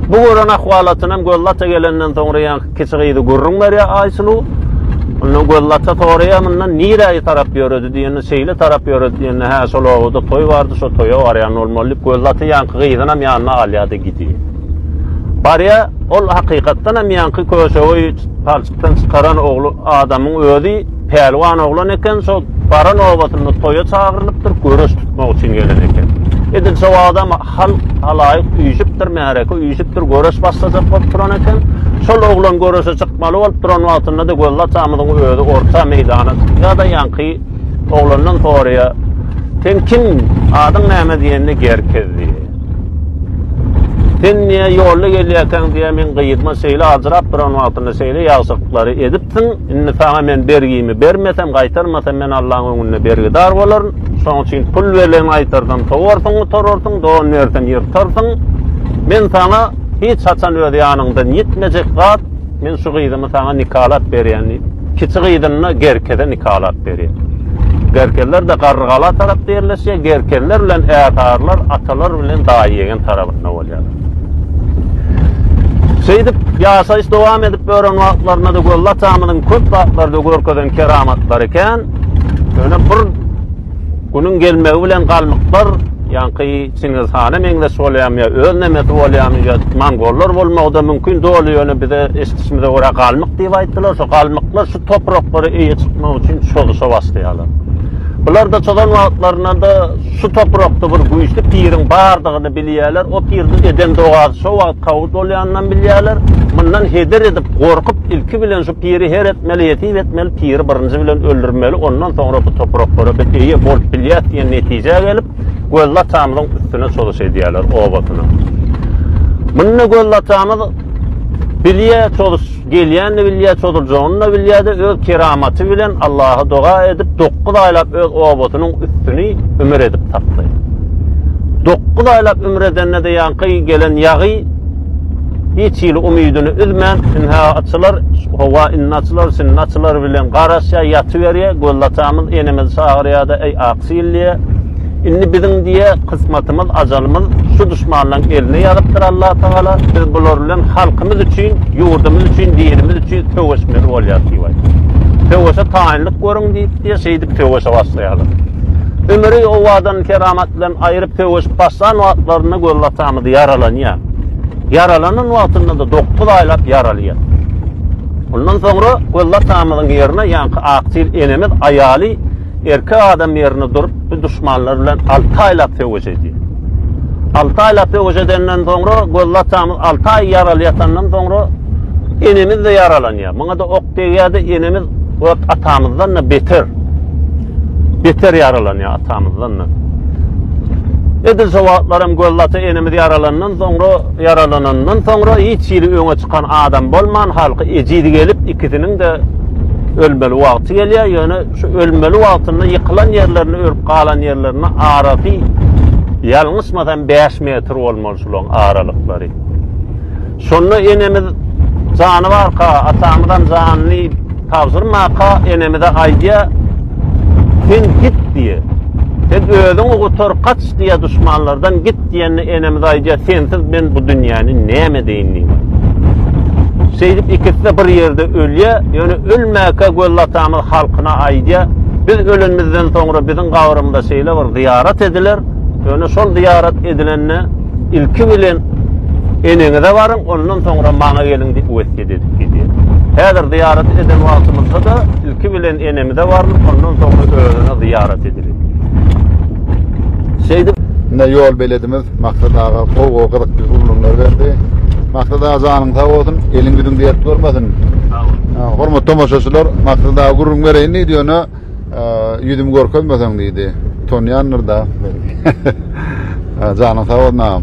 Bu gören ahwalatynam Göllata gelenden soňra ýa kiçi gyzy gürrüň berýär Aýsulu. Ondan Göllata soraýar mundan niräýe tarap ýöredi diýende şeýle tarap ýöredi diýende hä şol obada toý bardy şo toýa barýan bolmaly diýip Göllata ýaňky gyzynam ýanyna alýardy gidýär. Barýar ol hakykatdanam ýaňky köşegi palçykdan çykaran ogly adamyň özi Pälwan oglan eken, şo baran obatynda toýa çagyrylypdyr, göreş tutmak üçin gelen eken. Edil şo wagtam halk, halaýyk üýşüpdir, märeke üýşüpdir, göreş başlajak bolup duran eken. Şol oglan göreşe çykmaly bolup duran wagtynda-da Gözli atamyzyň özi orta meýdana çykýar-da, ýaňky oglandan soraýar, Sen kim, adyň näme diýende, Gerkez diýýär. Sen diýýär, ýolda gelýärkäň diýýär, meň gyzyma şeýle ajyrap duran wagtynda şeýle ýagşylyklary edipsiň, Indi saňa men bergimi bermesem, gaýtarmasam, men Allaň öňünde bergidar bolaryn. Şonuň üçin pul berlen gaýtarsam, sowarsyň, gutararsyň, don bersem, ýyrtarsyň. Men saňa hiç haçan öz ýanyňdan ýitmejek zat, men şu gyzymy saňa nikalap berýän diýip, kiçi gyzyny Gerkeze nikalap berýär. Gerkezler-de Garrygala tarapda ýerleşýär, Gerkezler bilen Äsarlar atalar bilen daýy-ýegen tarabynda bolýarlar. Şeýdip, ýaşaýyş dowam edip ýören wagtlarynda-da Gölli atamyzyň köp zatlarda görkezen keramatlary kän. Ýöne bir günüň gelmegi bilen galmyklar, ýaňky Çingiz hana meňzeş bolýarmy ýa öz nemesi bolýarmy ýa mongollar bolmagy-da mümkin, doly ýöne bize eşidişimize görä galmyk diýip aýtdylar. Şo galmyklar şu topraklara eýe çykmak üçin çozuşa başlaýarlar. Bular-da çozan wagtlarynda-da Şu toprakda bir güýçli piriň bardygyny bilýärler. O piriniň eden dogasy şo wagt kabul bolýanynam bilýärler. Mundan heder edip, gorkup, ilki bilen şu piri her etmeli, ýesir etmeli, piri birinji bilen öldürmeli, ondan soňra bu topraklara biz eýe bolup bilýäs diýen netijä gelip, Gözlatamyzyň üstüne çozuş edýärler, obasyna. Munda Gözlatamyz bilýär çozuş Gelýänini bilýär, çozuljagyny-da bilýär-de, öz keramaty bilen Allaha doga edip, dokuz aýlap öz obasynyň üstüni ümür edip tapdy. Dokuz aýlap ümür edende-de ýaňky gelen ýagy hiç hili umydyny üzmän, ynha, açylar, howa indi açylar, şindi açylar bilen garaşýar, ýatyberýär. Gözlatamyz enemizi çagyrýar-da, Eý, Aksil! diýýär. Indi biziň diýe kysmatymyz ajalymyz şu duşmanlaň eline ýazypdyr Allah Tagala biz bular bilen halkymyz üçin ýurdumyz üçin dinimiz üçin söweşmeli bolýas diýip aýtdy. Söweşe taýynlyk görüň diýip diýe şeýdip söweşe başlaýarlar. Ömüri owadan keramat bilen aýryp söweşip başlan wagtlarynda göz atamyz ýaralanýar. Ýaralanan wagtynda da 9 aýlap ýaralýar. Ondan soňra göz atamyzyň ýerine ýaňky aktyl enemiz aýaly Erkek adam ýerinde durup, bu duşmanlar bilen alty aýlap söweş edýär. Alty aýlap söweş edenden soňra, gözli atamyz alty aý ýaraly ýatandan soňra, enemiz-de ýaralanýar. Muňa-da ok degýär-de, enemiz ot atamyzdan-da beter. Beter ýaralanýar atamyzdan-da. Edil şo wagtlaram gözli ata enemiz ýaralandan soňra, ýaralanandan soňra, hiç ýeri öňe çykan adam bolman, halky ejiz gelip, ikisiniň-de ölmeli wagty gelýär. Ýöne, Şu ölmeli wagtynda ýykylan ýerlerinde ölüp galan ýerlerinde arasy ýalňyşmasam bäş metr bolmaly şulaň aralyklary. Şonda enemiz jany barka atamyzam janyny tabşyrmaka enemize aýdýa sen git diýe. Sen özüňi gutar kaç diýe duşmanlardan git. Git diýende enemiz aýdýar, Sensiz men bu dünýäni näme edeýin diýip. Şeýdip ikisi-de bir ýerde ölýär, ýöne ölmäkä Gözel atamyz halkyna aýdýar, Biz ölenimizden soňra biziň gabrymyza şeýle bir zyýarat ediler, ýöne şol zyýarat edilende ilki bilen eneňize baryň, ondan soňra maňa geliň diýip wesýet edip gidýär. Häzir zyýarat eden wagtymyzda-da ilki bilen enemize barlyp, ondan soňra özüne zyýarat ediler. Şeýdip, indi ýol beledimiz Maksat aga gowy-gowy gyzykly gürrüňler berdi. Maksat aga janyň sag bolsun, eliň ýüzüň dert görmesin. Sag bol. Hormatly tomaşaçylar, Maksat aga gürrüň bereýin diýdi, ýöne ýüzümi görkezmeseň diýdi. Utanýandyr-da. Janyň sag bolsun agam.